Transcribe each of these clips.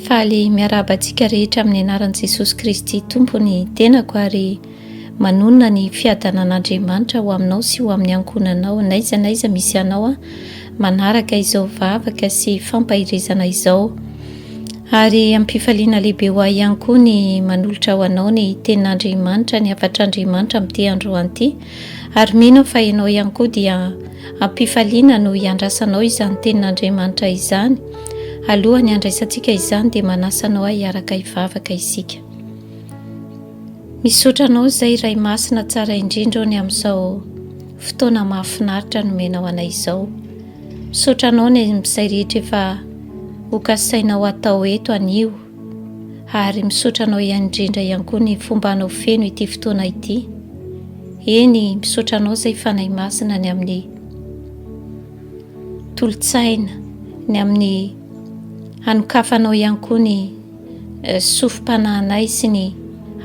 Faly miarahaba antsika rehetra amin'ny anaran'i Jesosy Kristy Tompo ny tenako ary manonona ny fiadanan'Andriamanitra ho aminao sy ho amin'ny ankohonanao n'aiza n'aiza misy anao a manaraka izao vavaka sy fampaherezana izao ary ampifaliana lehibe ho ahy ihany koa ny manolotra ho anao ny tenin'Andriamanitra ny hafatr'Andriamanitra amin'ity androanty Ary mino aho fa ianao ihany koa dia am-pifaliana no hiandrasanao izany Tenin'Andriamanitra izany. Alohan'ny handraisantsika izany dia manasa anao aho hiaraka hivavaka isika. Misaotra anao izay Ray Masina tsara indrindra ô ny amin'izao fotoana mahafinaritra nomenao anay izao. Misaotra anao ny amin'izay rehetra efa hokasainao atao eto anio. ary misaotra anao ihany indrindra ihany koa ny fomba anao feno ity fotoana ity eny misaotra anao izay fanahy masina ny amin'ny tolotsaina ny amin'ny hanokafanao ihany koa ny eh, sofim-panahinay sy ny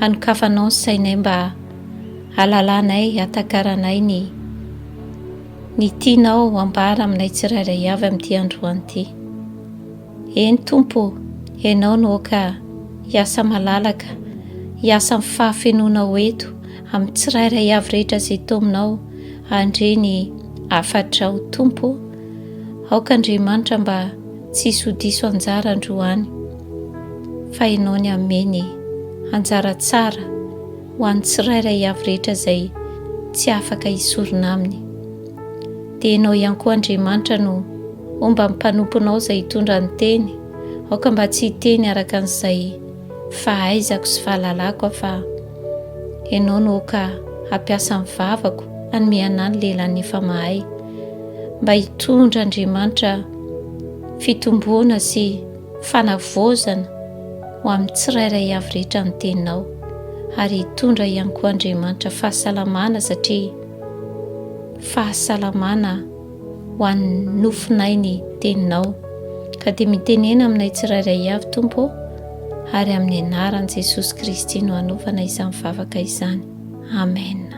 hanokafanao ny sainay mba alalanay atakaranay ny ny tianao ambara aminay tsirairay avy amin'ity androany ity Eny Tompo ô, Ianao no aoka hiasa malalaka, hiasa amin'ny fahafenoanao eto, amin'ny tsirairay avy rehetra izay to aminao, handre ny hafatrao Tompo ô. Aoka Andriamanitra mba tsy hisy ho diso anjara androany, fa Ianao ny hanome ny anjara tsara ho an'ny tsirairay avy rehetra izay tsy afaka hisorona aminy. dia Ianao ihany koa Andriamanitra no homba ny mpanomponao izay hitondra ny teny, aoka mba tsy hiteny araka an'izay fahaizako sy fahalalako aho fa Ianao no aoka hampiasa ny vavako hanome anà ny lehilahy nefa mahay, mba hitondra Andriamanitra fitomboana sy fanavaozana ho amin'ny tsirairay avy rehetra ny teninao, ary hitondra ihany koa Andriamanitra fahasalamana satria fahasalamana ho an'ny nofonay ny teninao. Ka dia mitenena aminay tsirairay avy, Tompo ô, ary amin'ny anaran'i Jesosy Kristy no anaovana izany vavaka izany. Amen.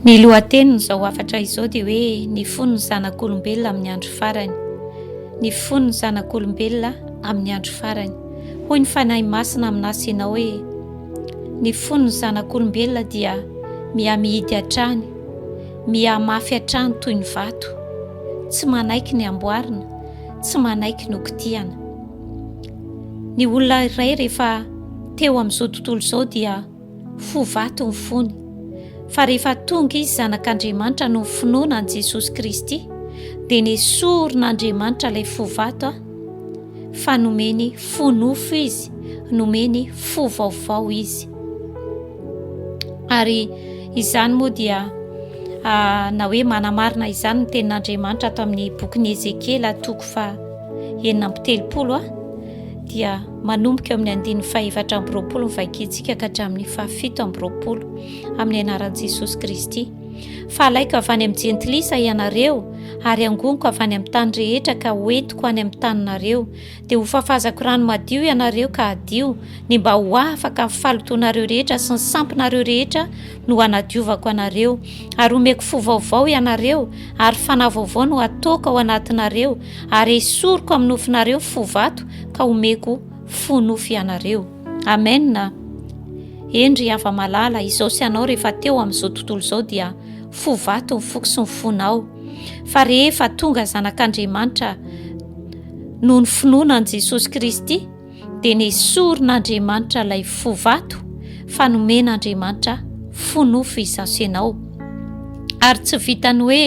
Ny lohatenin'izao hafatra izao dia hoe ny fon'ny zanak'olombelona amin'ny andro farany. Ny fon'ny zanak'olombelona amin'ny andro farany. Hoy ny Fanahy Masina amin'asy ianao hoe, Ny fon'ny zanak'olombelona dia mihamihidy hatrany, mihamafy hatrany toy ny vato, tsy manaiky ny hamboarina, tsy manaiky ny hokitihana. Ny olona iray rehefa teo amin'izao tontolo izao dia fo vato ny fony, fa rehefa tonga izy zanak'Andriamanitra noho ny finoana an'i Jesosy Kristy dia nesorin'Andriamanitra ilay fo vato fa nomeny fo nofo izy, nomeny fo vaovao izy. Ary izany moa dia ah, na hoe manamarina izany ny tenin'Andriamanitra ato amin'ny bokin'i Ezekiela toko fa enina amby telopolo ah, dia manomboka amin'ny andininy fahefatra amby roapolo ny vakintsika ka hatramin'ny fahafito amby roapolo amin'ny anaran'i Jesosy Kristy. Fa alaiko avy any amin'ny jentilisa ianareo, ary hangoniko avy any amin'ny tany rehetra ka hoentiko any amin'ny taninareo, dia hofafazako rano madio ianareo ka hadio, ny mba ho afaka ny falotoanareo rehetra sy ny sampinareo rehetra no hanadiovako anareo, ary homeko fo vaovao ianareo, ary fanahy vaovao no hataoko ao anatinareo, ary hesoriko amin'ny nofinareo fo vato ka homeko fo nofo ianareo. Amen a! Hendry hava malala, izao sy anao rehefa teo amin'izao tontolo izao dia fo vato ny foko sy ny fonao, fa rehefa tonga zanak'Andriamanitra noho ny finoana an'i Jesosy Kristy dia nesorin'Andriamanitra ilay fo vato fa nomen'Andriamanitra fo nofo izaso ianao ary tsy vitan'ny hoe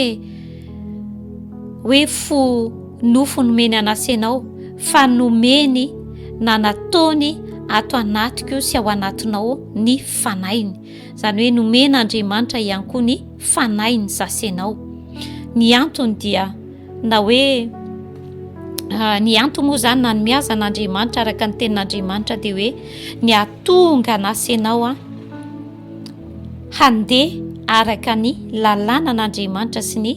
hoe fo nofo nomeny an'Asa ianao fa nomeny na nataony ato anatiko sy ao anatinao ny fanahiny izany hoe nomena Andriamanitra ihany koa ny fanahiny zasa ianao ny antony dia na hoe ah, ny antony moa izany na ny miazana Andriamanitra araka ny tenin'Andriamanitra dia hoe ny atonga an'asa ianao an handeha araka ny lalànan'Andriamanitra sy ny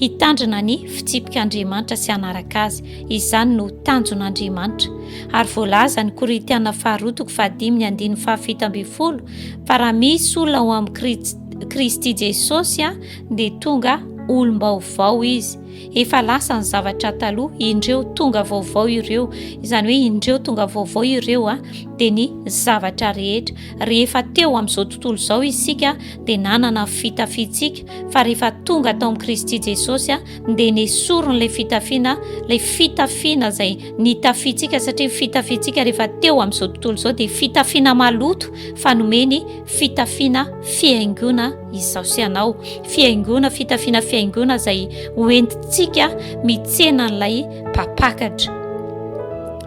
hitandrina ny fitsipik'Andriamanitra sy hanaraka azy. Izany no tanjon'Andriamanitra. Ary voalaza ny Korintiana faharoa toko fahadimy ny andininy fahafito ambin'ny folo fa raha misy olona ao amin'i Kristy Jesosy dia tonga olom-baovao izy. efa lasa ny zavatra taloha indreo tonga vaovao ireo izany hoe indreo tonga vaovao ireo a dia ny zavatra rehetra rehefa teo amin'izao tontolo izao isika dia nanana fitafintsika fa rehefa tonga tao amin'i kristy jesosy a dia ny soron'ilay fitafiana lay fitafiana izay ny tafintsika satria fitafintsika rehefa teo amin'izao tontolo izao dia fitafiana maloto fa nomeny fitafiana fiaingona Izaho sy ianao, fihaingoana, fitafiana fihaingoana izay hoentintsika mitsena an'ilay mpampakatra.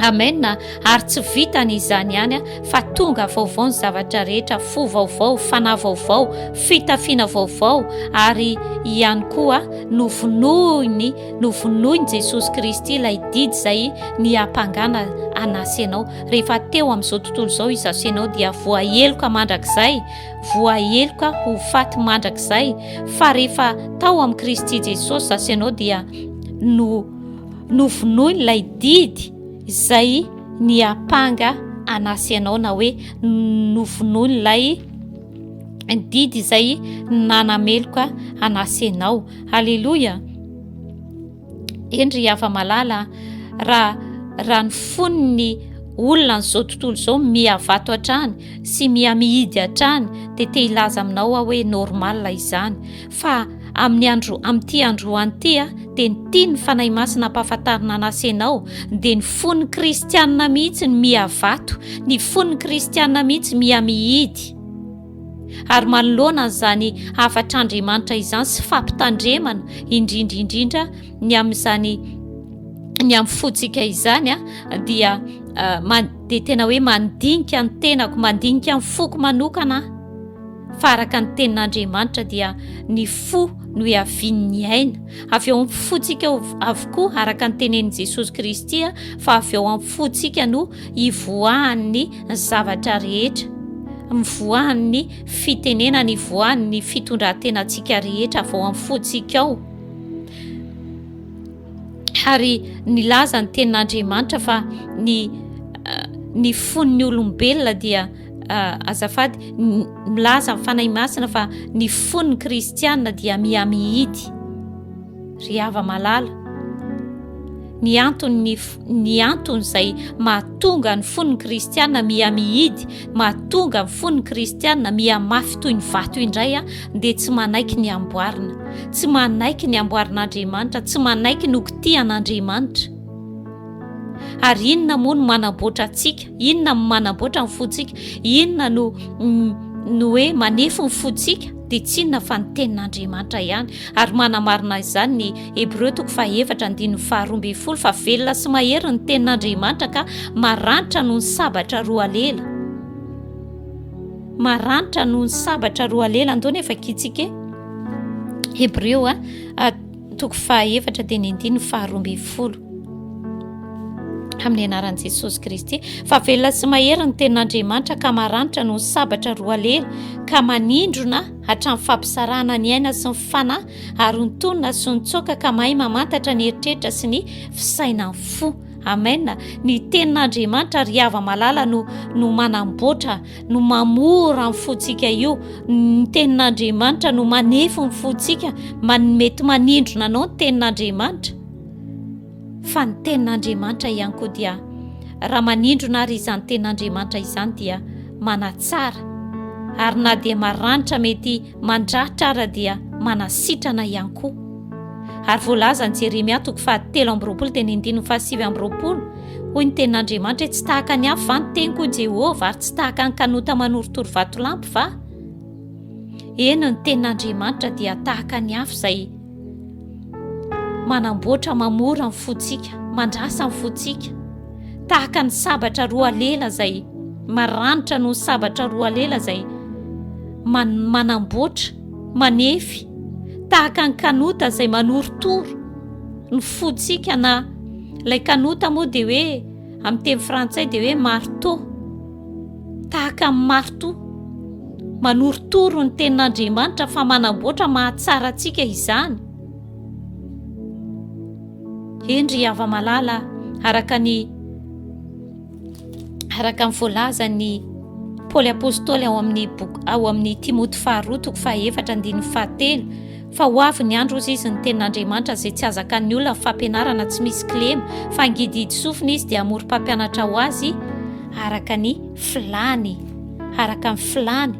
Amen. Ary tsy vitany izany ihany fa tonga vaovao ny zavatra rehetra, fo vaovao, fanahy vaovao, fitafiana vaovao ary ihany koa novonoiny, novonoiny Jesosy Kristy ilay didy izay niampangana anasy anao. Rehefa teo amin'izao tontolo izao izaho sy ianao dia voaheloka mandrakizay voaheloka ho faty mandrakizay fa rehefa tao amin'i Kristy Jesosy za sy ianao dia no novonoin'ilay didy izay niampanga anà sy ianao na hoe novonoin'ilay didy izay nanameloka anà sy ianao. Haleloia! Eny ry hava-malala, raha raha ny fon'ny olona an'izao tontolo izao mihavato hatrany sy mihamihidy hatrany dia te hilaza aminao aho hoe normal izany fa amin'ny andro amin'ity androany ity a dia ny tia ny fanahy masina ampahafantarina an'asa ianao dia ny fon'ny kristianina mihitsy ny mihavato ny fon'ny kristianina mihitsy mihamihidy Ary manoloana an'izany hafatr'Andriamanitra izany sy fampitandremana indrindra indrindra ny amin'izany ny amin'ny fontsika izany dia dia tena hoe mandinika ny tenako mandinika ny foko manokana fa araka ny tenin'Andriamanitra dia ny fo no iavian'ny aina avy ao amin'ny fontsika avokoa araka ny tenenin'i Jesosy Kristy fa avy ao amin'ny fontsika no ivoahan'ny zavatra rehetra, mivoahan'ny fitenenana, ivoahan'ny fitondran-tenantsika rehetra vao amin'ny fontsika ao. Ary nilaza ny tenin'Andriamanitra fa ny eh, ny fon'ny olombelona dia uh, azafady milaza ny fanahy masina fa ny fon'ny kristianina dia mihamihidy Ry hava-malala, ny antony ny antony izay mahatonga ny fon'ny kristiana miha-mihidy, mahatonga ny fon'ny kristiana miha-mafy toy ny vato indray a, dia tsy manaiky ny amboarina, tsy manaiky ny amboarin'Andriamanitra, tsy manaiky ny hokitihan'Andriamanitra. Ary inona moa no manamboatra antsika? Inona no manamboatra ny fontsika? Inona no no hoe manefy ny fontsika? dia tsinona fa ny tenin'Andriamanitra ihany, ary manamarina izany ny Hebreo toko fahaefatra andininy faharoa ambin'ny folo fa velona sy mahery ny tenin'Andriamanitra ka maranitra noho ny sabatra roa lela. Maranitra noho ny sabatra roa lela, andao nefa kitsika e. Hebreo a. Toko fahaefatra dia ny andininy faharoa ambin'ny folo. Amin'ny anaran'i Jesosy Kristy, fa velona sy mahery ny tenin'Andriamanitra ka maranitra noho ny sabatra roa lela, ka manindrona hatramin'ny fampisarahana ny aina sy ny fanahy, ary ontonina sy nitsoaka ka mahay mamantatra ny eritreritra sy ny fisainan'ny fo. Amen. Ny tenin'Andriamanitra ry hava malala no no manamboatra no mamora ny fontsika io ny tenin'andriamanitra no manefo ny fontsika manmety manindrona anao ny tenin'andriamanitra fa ny tenin'andriamanitra ihany koa dia raha manindrona ary izany tenin'andriamanitra izany dia manatsara ary na dia maranitra mety mandratra ara dia manasitrana ihany koa ary voalazany jeremia toko fahatelo ambyroapolo teny indininy fahasivy ambyroapolo Hoy ny tenin'Andriamanitra hoe, Tsy tahaka ny afo va ny teniko, hoy Jehovah, ary tsy tahaka ny kanota manorotoro vatolampy va? Eny, ny tenin'Andriamanitra dia tahaka ny afo izay manamboatra mamora ny fontsika, mandrasa ny fontsika, tahaka ny sabatra roa lela izay maranitra noho ny sabatra roa lela izay manamboatra manefy tahaka ny kanota izay manorotoro ny fotsika na ilay kanota moa dia hoe amin'ny teny frantsay dia hoe marto tahaka amin'ny marto manorotoro ny tenin'andriamanitra fa manamboatra mahatsara antsika izany hendry hava-malala araka ny Araka ny voalazan'ny Paoly Apôstôly ao amin'ny boky ao amin'ny Timoty faharoa toko fahaefatra andininy fahatelo fa ho avy ny andro ozy izy ny tenin'Andriamanitra izay tsy azakan'ny olona fampianarana tsy misy kilema fa ngidihidy sofina izy dia amory mpampianatra ho azy araka ny filany araka ny filany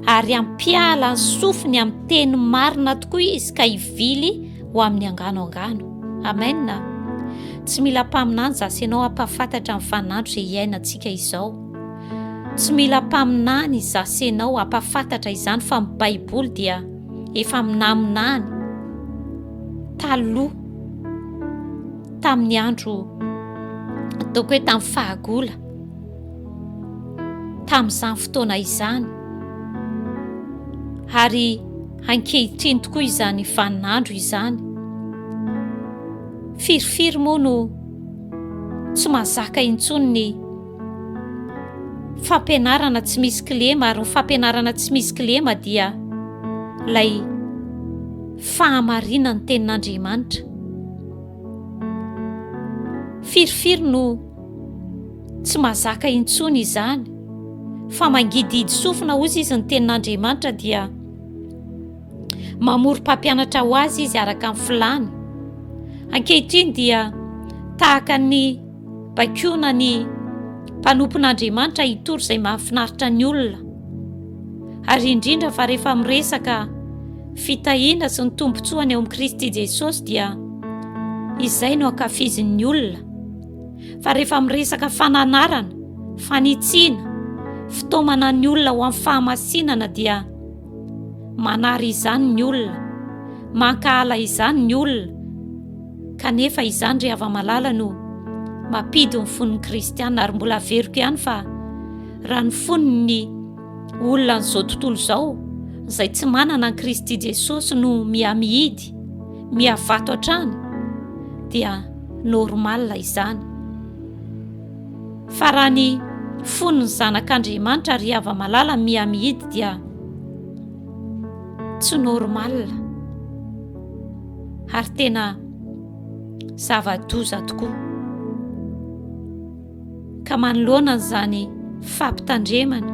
ary ampiala ny sofiny amin'ny teny marina tokoa izy ka hivily ho amin'ny angano angano. Amena. Tsy mila mpaminany za sy ianao hampahafantatra ny vaninandro izay hiainantsika izao. Tsy mila mpaminany za sy ianao hampahafantatra izany fa ny Baiboly dia efa minaminany taloha tamin'ny andro ataoko hoe tamin'ny fahagola tamin'izany fotoana izany ary ankehitriny tokoa izany vaninandro izany. Firifiry moa no tsy mazaka intsony ny fampianarana tsy misy kilema ary ny fampianarana tsy misy kilema dia lay fahamarinan'ny tenin'Andriamanitra. Firifiry no Tsy mazaka intsony izany, fa mangidihidy sofina, hozy izy, ny tenin'Andriamanitra, dia mamory mpampianatra ho azy izy araka ny filany. Ankehitriny dia tahaka ny bakiona ny mpanompon'Andriamanitra hitory izay mahafinaritra ny olona, ary indrindra fa rehefa miresaka fitahiana sy ny tombontsoany ao amin'i Kristy Jesosy dia izay no ankafizin'ny olona. fa rehefa miresaka fananarana, fanitsiana, fitaomana ny olona ho amin'ny fahamasinana dia manary izany ny olona, mankahala izany ny olona, kanefa izany ry hava-malala no mampidin'ny fon'ny kristiana ary mbola averiko ihany fa raha ny fon'ny Olona an'izao tontolo izao izay tsy manana an'i Kristy Jesosy no miha-mihidy, miha-vato hatrany, dia normal izany. Fa raha ny fon'ny zanak'Andriamanitra ry hava-malala miha-mihidy dia tsy normal. Ary tena zava-doza tokoa. ka manoloana an'izany fampitandremana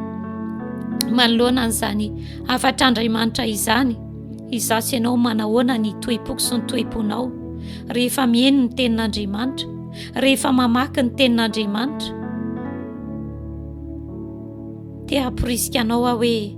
manoloana an'izany hafatr'Andriamanitra izany izaho sy ianao manahoana ny toepoko sy ny toeponao rehefa mihaino ny tenin'Andriamanitra rehefa mamaky ny tenin'Andriamanitra te hamporisika anao aho hoe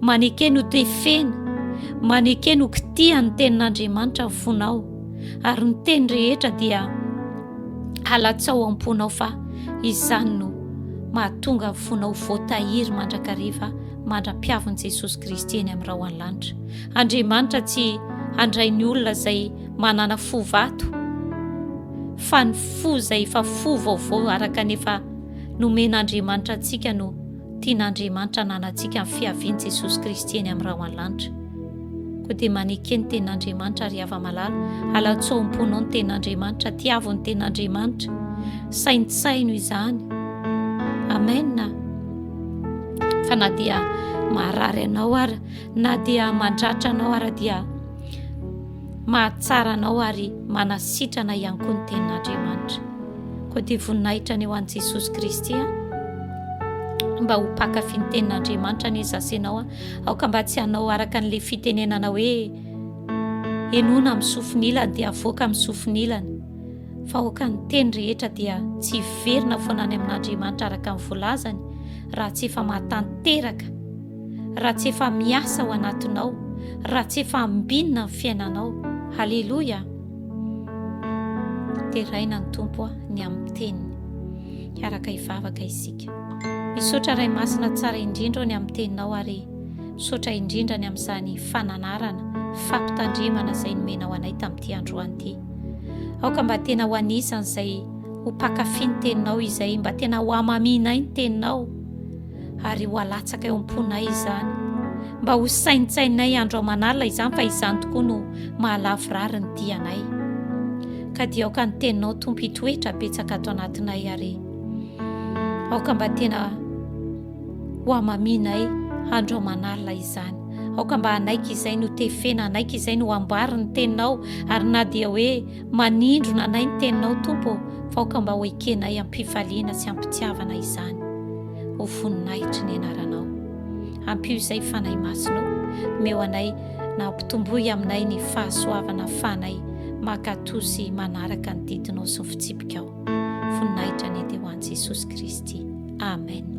Maneke ny ho tefena, maneke ny ho kitihan' ny tenin'Andriamanitra ny fonao, ary ny teny rehetra dia halatsao am-ponao fa izany no mahatonga ny fonao voatahiry mandrakariva mandra-piavin'i Jesosy Kristy eny amin'ny rahona lanitra. Andriamanitra tsy handray ny olona izay manana fo vato, fa ny fo izay efa fo vaovao araka ny efa nomen'Andriamanitra antsika no Tian'Andriamanitra hananantsika ny fiavian'i Jesosy Kristy eny amin'ny rahona lanitra. Koa dia maneke ny Tenin'Andriamanitra, ry hava-malala, alatsoa ao am-ponao ny Tenin'Andriamanitra, tiavo ny Tenin'Andriamanitra, saintsaino izany. Amena. Fa na dia maharary anao ara, na dia mandratra anao ara dia Mahatsara anao ary manasitrana ihany koa ny tenin'Andriamanitra. Koa dia voninahitra ny ho an'i Jesosy Kristy a. Mba ho mpankafy ny tenin'Andriamanitra anie za sy ianao a. Aoka mba tsy hanao araka an'ilay fitenenana hoe henoina amin'ny sofin'ilany dia avoaka amin'ny sofin'ilany. Fa aoka ny teny rehetra dia tsy hiverina foana any amin'Andriamanitra araka ny volazany raha tsy efa mahatanteraka raha tsy efa miasa ao anatinao, raha tsy efa ambinina ny fiainanao. Haleloia! Deraina ny Tompo a, ny amin'ny teniny. Hiaraka hivavaka isika. Misaotra Ray Masina tsara indrindra ny amin'ny teninao ary misaotra indrindra ny amin'izany fananarana, fampitandremana izay nomenao anay tamin'ity androany ity. Aoka mba tena ho anisan'izay ho pakafy ny teninao izay, mba tena ho amamianay ny teninao. ary ho alatsaka eo am-ponay izany. Mba ho saintsaininay andro aman'alina izany fa izany tokoa no mahalavorary ny dianay. Ka dia aoka ny teninao tompo hitoetra betsaka ato anatinay ary aoka mba tena ho amaminay andro aman'alina izany. Aoka mba hanaiky izay no tefena, hanaiky izay no ambariny teninao ary na dia hoe Manindrona anay ny Teninao, Tompo ô, fa aoka mba ho ekenay am-pifaliana sy am-pitiavana izany. Ho voninahitry ny Anaranao. Ampio izay, Fanahy Masina ô. Omeo anay, na ampitomboy aminay ny fahasoavana ahafahanay mankatò sy manaraka ny didinao sy ny fitsipikao. Voninahitra ny ate ho an'i Jesosy Kristy. Amen.